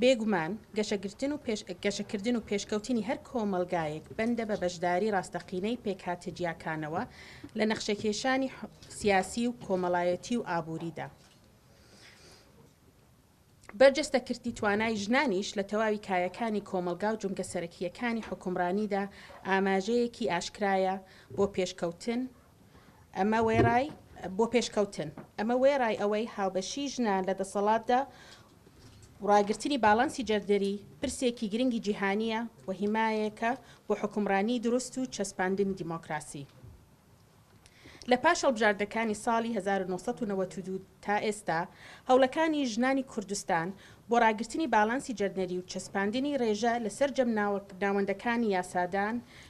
بێگومان گەشەگرتن و گەشەکردن و پێشکەوتنی هەر کۆمەڵگایەک بەندە بە بەشداری ڕاستەقینەی پێکهاتە جیاکانەوە لە نەخشەکێشانی سیاسی و کۆمەڵایەتی و ئابووریدا. بەرجەستەکردنی توانای ژنانیش لە تەواوی کایەکانی کۆمەڵگا و جومگە سەرەکییەکانی حوکمڕانیدا ئاماژەیەکی ئاشکرایە بۆ پێشکەوتن، ئەمە وێڕای بۆ پێشکەوتن، ئەمە وێڕای ئەوەی هاوبەشیی ژنان لە دەسەڵاتدا و ڕاگرتنی باڵانسی جێندەری پرسێکی گرنگی جیهانییە و هیمایەکە بۆ حوکمڕانیی دروست و چەسپاندنی دیمۆکراسی. لە پاش هەڵبژاردنەکانی ساڵی هەزار و نۆ سەد و نەوەد و دوو تا ئێستا، هەوڵەکانی ژنانی کوردستان بۆ ڕاگرتنی باڵانسی جێندەری و چەسپاندنی ڕێژە لە سەرجەم ناوەندەکانی یاسادان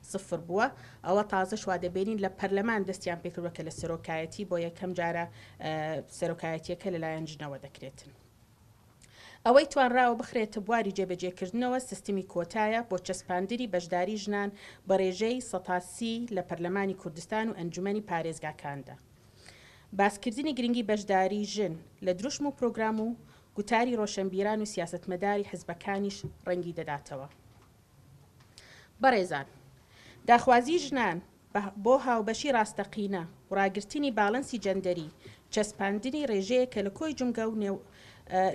سفر بووە، ئەوە تازەش وا دەبینین لە پەرلەمان دەستیان پێکردووە کە لە سەرۆکایەتی بۆ یەکەم جارە سەرۆکایەتییەکە لەلایەن ژنەوە دەکرێتن. ئەوەی توانراوە بخرێتە بواری جێبەجێکردنەوە سیستمی کۆتایە بۆ چەسپاندنی بەشداری ژنان بە رێژەی سەتا سی لە پەرلەمانی کوردستان و ئەنجومەنی پارێزگاکاندا. باسکردنی گرنگی بەشداری ژن لە دروشم و پرۆگرام و گوتاری رۆشەنبیران و سیاسەتمەداری حزبەکانیش رەنگی دەداتەوە. بەڕێزان، داخوازیی ژنان بۆ هاوبەشی ڕاستەقینە و ڕاگرتنی باڵەنسی جەندەری، چەسپاندنی ڕێژەیەکە لە کۆی جومگە و نێو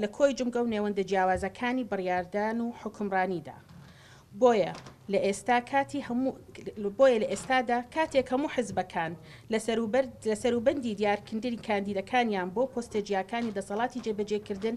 لە کۆی جومگە و نێوەندە جیاوازەکانی بڕیاردان و حوکمڕانیدا. بۆیە لە ئێستا کاتی هەموو بۆیە لە ئێستادا کاتێک هەموو حزبەکان لە سەروبەر لە سەروبەندی دیارکندنی کاندیدەکانیان بۆ پۆستە جیاکانی دەسەڵاتی جێبەجێکردن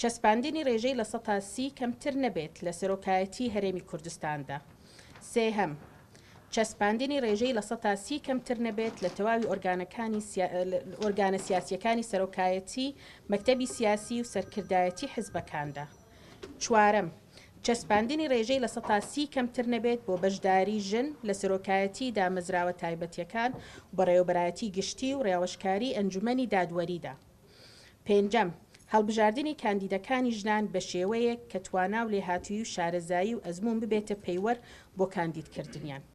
چەسپاندنی رێژەی لە سەتا سی کەمتر نەبێت لە سەرۆکایەتیی هەرێمی کوردستاندا. سێهەم، چەسپاندنی رێژەی لە سەتا سی کەمتر نەبێت لە تەواوی ئۆرگانەکانی ئۆرگانە سیاسییەکانی سەرۆکایەتیی، مەکتەبی سیاسیی و سەرکردایەتیی حزبەکاندا. چوارەم، چەسپاندنی رێژەی لە سەتا سی کەمتر نەبێت بۆ بەشداریی ژن لە سەرۆکایەتیی دامەزراوە تایبەتییەکان و بەڕێوەبەرایەتیی گشتی و رێاوشکاریی ئەنجومەنی دادوەریدا. پێنجەم، هەڵبژاردنی کاندیدەکانی ژنان بە شێوەیەک کە توانا و لێهاتوویی و شارەزایی و ئەزموون ببێتە پەیوەر بۆ کاندیدکردنیان.